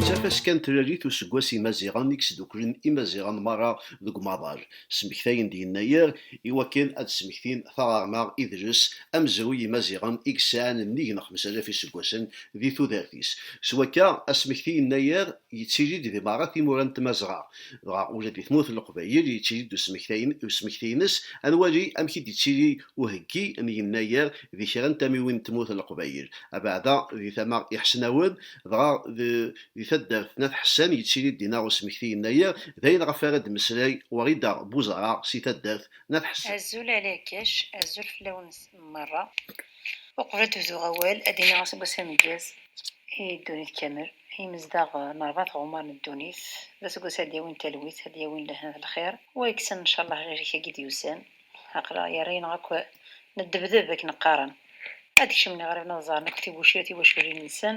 d tafaska n tlalit useggas imaziɣen i yesdukklen imaziɣen merra deg umaḍal Smektayen-d Yennayer i wakken ad d-smektin taɣerma, idles, amezruy n Yimaziɣen i yesɛan nnig n xemsa alaf iseggasen di tudert-is. S wakka, asmekti Yennayer yettili-d di merra timura n Tmazɣa. Dɣa ula di tmurt n Leqbayel yettili-d usmekti-ines. Ad nwali amek i d-yettili uheggi n Yennayer di kra n tamiwin n tmurt n Leqbayel, abeɛda di tama iḥesnawen, dɣa Di taddart n At Ḥessan yettili-d dinna usmekti yennayer, d ayen ɣef ara d-temmeslay Wrida Buzara si taddart n At Ḥessan. Azul a Lakac, azul fell-awen merra. Uqbel ad d-bduɣ awal, ad d-iniɣ aseggas ameggaz i ddunit kamel, i yimezdaɣ n rebɛa tɣemmar n ddunit. D aseggas ara d-yawin talwit, ad d-yawin lehna d lxir. Wa yekksen ncallah lhirik-agi d-yusan, aql-aɣ yerra-aneɣ akk neddebdeb akken qqaren. Ad d-kecmen iɣriben ad ẓaren akk tibucirt tiwaculin-nsen.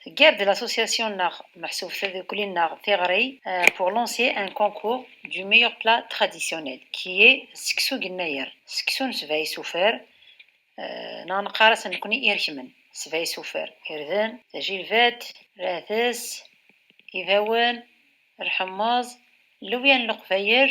Teggar-d l'association-nneɣ meḥsub tadukli-nneɣ tiɣri pour lancer un concours du meilleur plat traditionnel qui est seksu n yennayer, seksu n sebɛa isufar, neɣ neqqar-as nekkni irekmen, sebɛa isufar, irden, tajilbat, rates, ibawen, lḥemmeẓ, llewya n leqbayel,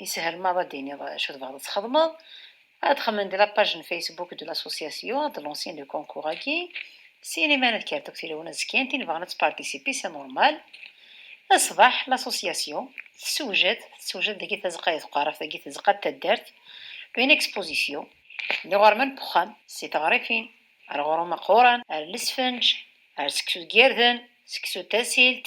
Yeshel ma ad d-tiniḍ acu tebɣiḍ ad txedmeḍ, ad xemmen di la page n Facebook de l'association, ad lancen le concours-agi, s iniman ad kkert akk tilawin ad zkint, tin ibɣan ad tparticiper c'est normal. Ṣṣbeḥ, l'association tessewjed, tessewjed dagi tazeqqa d tqerraft, dagi tazeqqa d taddart, une exposition. D iɣerman n uxxam, si teɣrifin, ar uɣrum aqquran, ar lesfenǧ, ar seksu deg yirden, seksu d tasilt,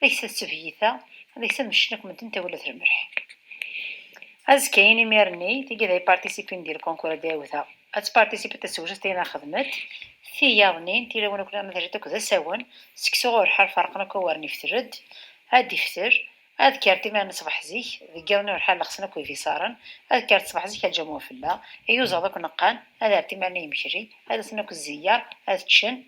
Deg-s ad tebyyit-a, deg-s ad meccen akk medden tawla termerḥ. Azekka in imir-nni, tigi d ay participin di lkonkur a d-awta, ad tparticipet tasewjest ayen a xedmet, tiyaḍnin, tilawin akk nniḍen a terret akk d asawen, seg s ɣur ḥal ferqen akk awaren ifter-d, ad d-ifter, ad kker timira n ṣbeḥ zik, deg yiḍ-nni ɣur ḥal lexsen akk ibiṣaren, ad kker-d ṣbeḥ zik a lǧam wafella, iyuzaḍ akk neqqan, ad ar timar-nni yemekri, ad asen akk zzeyyer, ad ččen,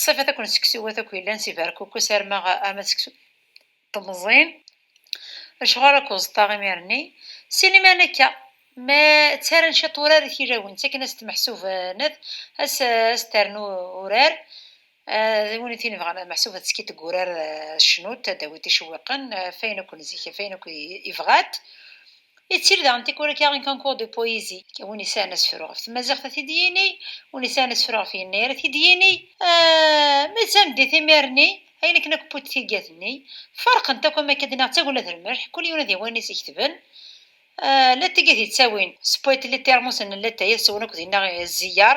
Ṣṣafat akk n seksuwat akk yellan si Berkukes arma arma seksu temẓin. Acuɣer akk uẓeṭṭa imir-nni? Si liman akka, ma ttaran ciṭ urar i tilawin, ttaken as-d meḥsub ned, as as ternu urar, d win tin ibɣan meḥsub ad teskiṭ deg urar tecnut, ad d-tawi ticewwiqen, ɣef ayen akk n zik, ɣef ayen akk ibɣat. Yettil daɣen tikwal akka un concours de poésie, win yesɛan asefru ɣef tmaziɣt ad t-id-yini, win yesɛan asefru ɣef yennayer ad t-id-yini. Ma d tameddit imir-nni, ayen akken akk n wwet tiggat-nni, ferqent akk am akka d-nniɣ d tagella d lmelḥ, kul yiwen ad yawi ayen i s-iketben. Latay i t-yettawin s poète littéraire Moussan Latay, ad t-swen akk dinna zziyaṛ,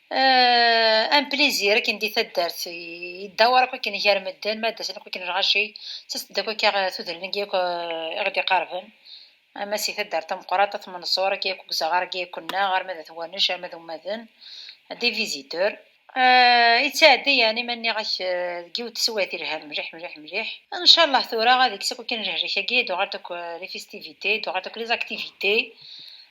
Euh, un plaisir akken di taddart yedda war akk akken gar medden ma d-asen akk akken lɣaci ttast-d akk akka tudrin agi akk i ɣ-d-iqarben ama si taddart tameqqrat at Menṣur agi akk gzaɣar agi akk nneɣ arma d at Wanec arma d ummaden des visiteurs yettɛeddi yani ma nniɣ-ak deg yiwet teswiɛt yelhan mliḥ mliḥ mliḥ incallah tura ad ikkes akk akken lehlak agi d uɣalt akk les festivités d uɣalt akk les activités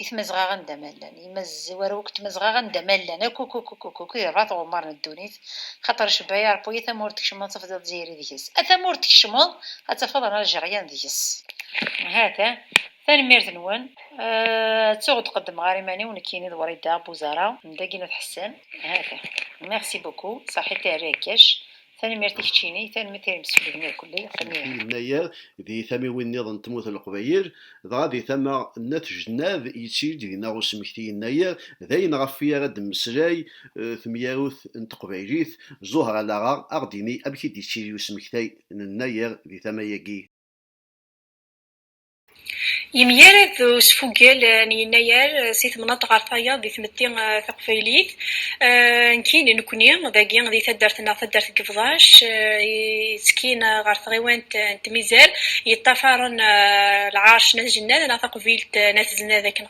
I Tmazɣa anda ma llan yimazzi war wakk Tmazɣa anda ma llan akk akk akk akk akk yerɣa tɣumar n ddunit Xaṭer Cebba Yaṛebbu ya tamurt tkecmeḍ tafdiḍ Dzzayir i deg-s A tamurt tkecmeḍ ad tafeḍ an Aljeryan deg-s. Hata, tanemmirt-nwen. Ttuɣ ur qeddmeɣ ara iman-iw nekkini d Wrida Buzara n dagi n At Ḥessan. Hata. Merci beaucoup, Saḥit Terri Akkac. Tanemmirt i keččini, tanemmirt i yimsefliden akk n Leqbayel. I Yennayer, di tamiwin-nniḍen n tmurt n Leqbayel, dɣa di tama n Nat Jennad, yetti-d dinna usmekti Yennayer, d ayen ɣef i ara d-temmeslay temyarut n teqbaylit, Zuhra Laɣa, a ɣ-d-tini amek i d-yettili usmektay n Yennayer di tama-agi. Yemgarad d usfugel n yennayer si temnaḍt ɣer tayeḍ di tmetti taqbaylit, nekkini d nekkni dagi di taddart-nneɣ taddart n Yebḍac yettkin ɣer tɣiwant n Tmizar yeṭṭafaren lɛerc n At Jennad neɣ taqbilt n At Znad akken qbel.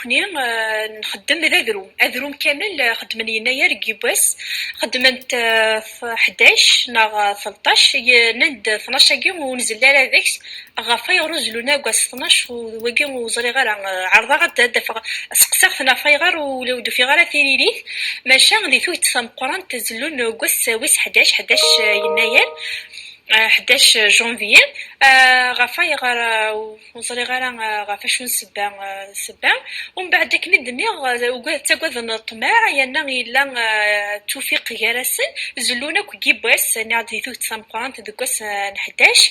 Nekkni nxeddem d adrum, adrum kamel xeddmen yennayer deg yiwwas, xeddment ḥdac neɣ telṭac, yenna-d tnac-agi ur nzelli ara deg-s, ɣef wayɣer ur zellun ara deg wass tnac, d wagi ur ẓriɣ ara, ɛerḍeɣ ad d-afeɣ, ad seqsaɣ-ten ɣef wayɣer ula ur d-ufiɣ ara tiririt, maca di tuget tameqqrant zellun deg wass wis ḥdac, ḥdac yennayer, ḥdac janvier, ɣef wayɣer? ur ẓriɣ ara eh, ɣef acu n sebba eh, sebba umbeɛd akken i d-nniɣ eh, ttagaden ṭṭmeɛ yerna yella tufiq gar-asen zellun akk gibbas niɣ-d di tuget tameqqrant deg wass n ḥdac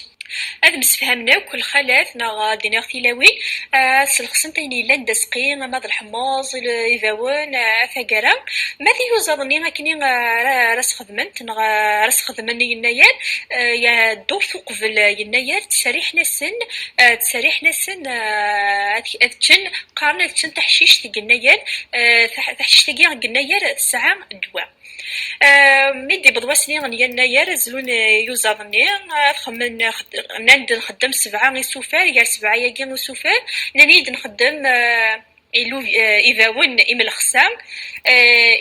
ad msefhamen akk lxalat neɣ ad iniɣ tilawin ad slexsent ayen yellan d asqi ama d lḥemmeẓ ibawen tagara ma tiyuzaḍ-nni akken ara xedment neɣ ara sxedmen yennayer ya ddurt uqbel yennayer ttserriḥen-asen ttserriḥen-asen ad ččen qqaren ad ččen taḥcict deg yennayer taḥcict-agi deg yennayer tesɛa ddwa mi d-yewweḍ wasni n yennayer zlun yuzaḍ-nni ad xemmen nnan-d nxeddem sebɛa isufar gar sebɛa-agi isufar nnan-iyi-d nxeddem ibawen imelxsa,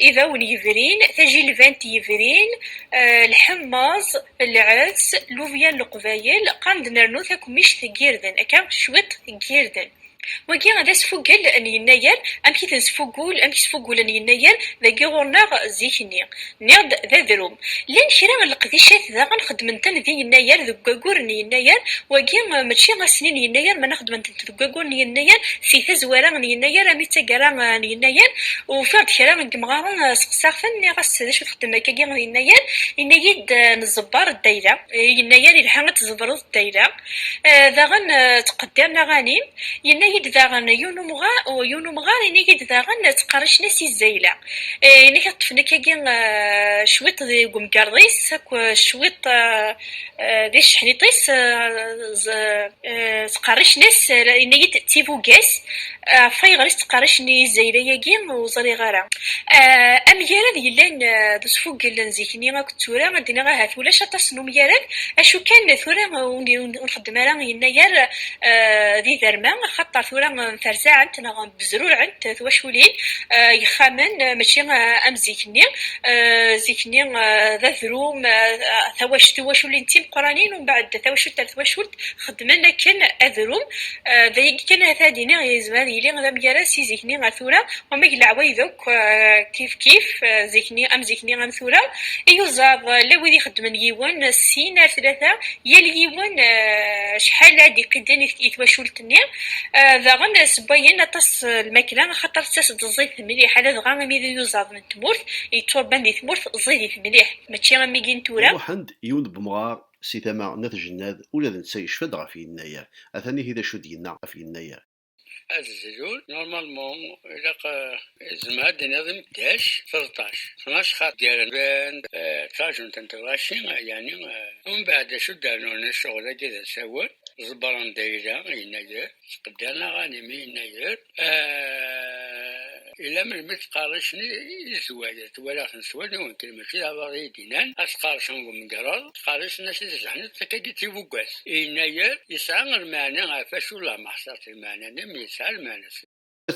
ibawen yebrin, tajilbant yebrin, lḥemmeẓ, lɛezz, lubya n leqbayel, qqaren-d nernu takemmict n yirden, akka cwiṭ n yirden. Wagi d asfuggel n yennayer, amek i ten-sfuggul, amek sfuggulen yennayer dagi ɣur-neɣ zik-nni. Nniɣ-d d adrum. Llan kra n leqdicat daɣen xeddmen-ten di yennayer deg waggur n yennayer, wagi mačči ass-nni n yennayer mana xeddmen-tent deg waggur n yennayer, si tazwara n yennayer armi d taggara n yennayer, ufiɣ-d kra n yemɣaren seqsaɣ-ten nniɣ-as d acu txeddem akkagi di yennayer, yenna-yi-d neẓebber ddayla. Yennayer yelha ad tẓebreḍ ddayla. Daɣen ttqeddiren aɣanim, yenna-yi-d daɣen yiwen umɣar ini-yi-d daɣen ttqerricen-as i Zayla, ini-k ad ṭṭfen akkagi cwiṭ deg umgerḍ-is akk cwiṭ di tceḥniṭ-is, ttqerricen-as, yenna-yi-d d tibuga-s. Ɣef wayɣer i s-ttqerricen i yizzayra-agi, ur ẓriɣ ara. Amgarad yellan d usfuggel n zik-nni akked tura, ad d-iniɣ ahat ulac aṭas n umgarad, acu kan tura ur nxeddem ara yennayer d iderma, axaṭer tura mferzaɛent neɣ mbezruɛent twaculin, yexxamen, mačči am zik-nni. Zik-nni d adrum, tawacult, tiwaculin d timeqqranin, umbeɛd tawacult ar twacult. xeddmen akken ad run. D ayagi kan ahat ad iniɣ yezmer ad yili d amgaraz si zik-nni ar tura, wamag n leɛwayed akk kif kif, zik-nni am zik-nni am tura, iyuzaḍ llan wid ixeddmen yiwen, sin, ar tlata, yal yiwen acḥal ara d-iqidden i twacult-nni, daɣen ssewwayen aṭas n lmakla axaṭer tettas-d ẓẓayet mliḥ, ladɣa imi d iyuzaḍ n tmurt yetturban di tmurt ẓẓayit mliḥ mačči am wigi n tura. Iruḥen-d yiwen n umɣar Si tama n At Jennad, ula d netta yecfa-d ɣef Yennayer. Atan ihi d acu d-yenna ɣef Yennayer. Ad zlun, normalement, ilaq, zemreɣ ad d-iniɣ d imeddac treṭṭac, tnac xaṭ ggaren band, ṭṭrajun tanteglaci, yeɛni umbeɛd d acu d-rnun, ccɣel-agi d asawen, ẓebber anda yella Yennayer. Sqeddaneɣ animi yennayer ila melmi ttqerricen izwad. Twalaɣ-ten s wallen-iw-nken, mačči d abaḍ i yi-d-innan, ad ttqerricen deg umgerreḍ, ttqerricen-as i tzeḥniḍt, akka-d i tibuggas. Yennayer yesɛa lmeɛna ɣef acu lameḥ sɛiɣ-tt lmeɛna-nni mi yesɛa lmeɛna-s.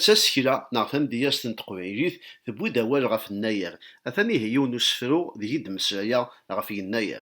Tasekla neɣ tamedyazt n teqbaylit tewwi-d awal ɣef nnayer. Atan ihi yiwen n usefru deg i d-mmeslayeɣ ɣef yennayer.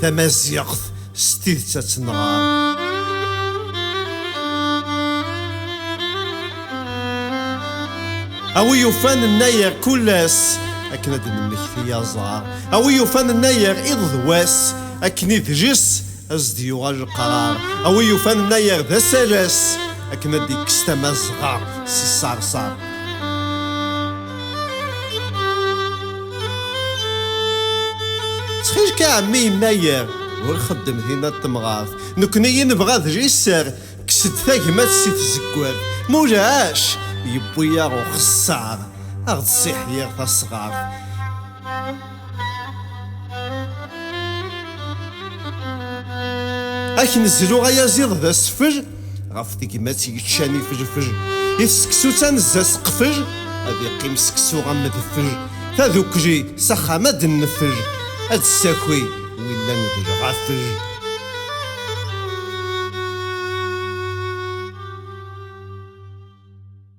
tamaziɣt s tidet ad tenɣer. Awi yufan nnayer kul ass akken ad nemmekti aẓar. Awi yufan nnayer iḍ d wass akken i dris as d yuɣal lqrar. Awi yufan nnayer d asalas akken ad d-ikkes tamazɣa s ṣṣerṣer. ttxilk a ɛemmi yennayer ur xeddem dinna d temɣart nekkni i nebɣa d liser kkes-d tagmat si tzeggart ma ulac yewwi-aɣ uxessar a ɣ-d ssiḥyir tasɣart Akken zluɣ ayaziḍ d asfel ɣef tegmat yeččan ifelfel i tseksu-s anezza seqfel ad iqqim seksu am medfel tadukli s axxam ad neffel ad d-ssaki willan d lɣafel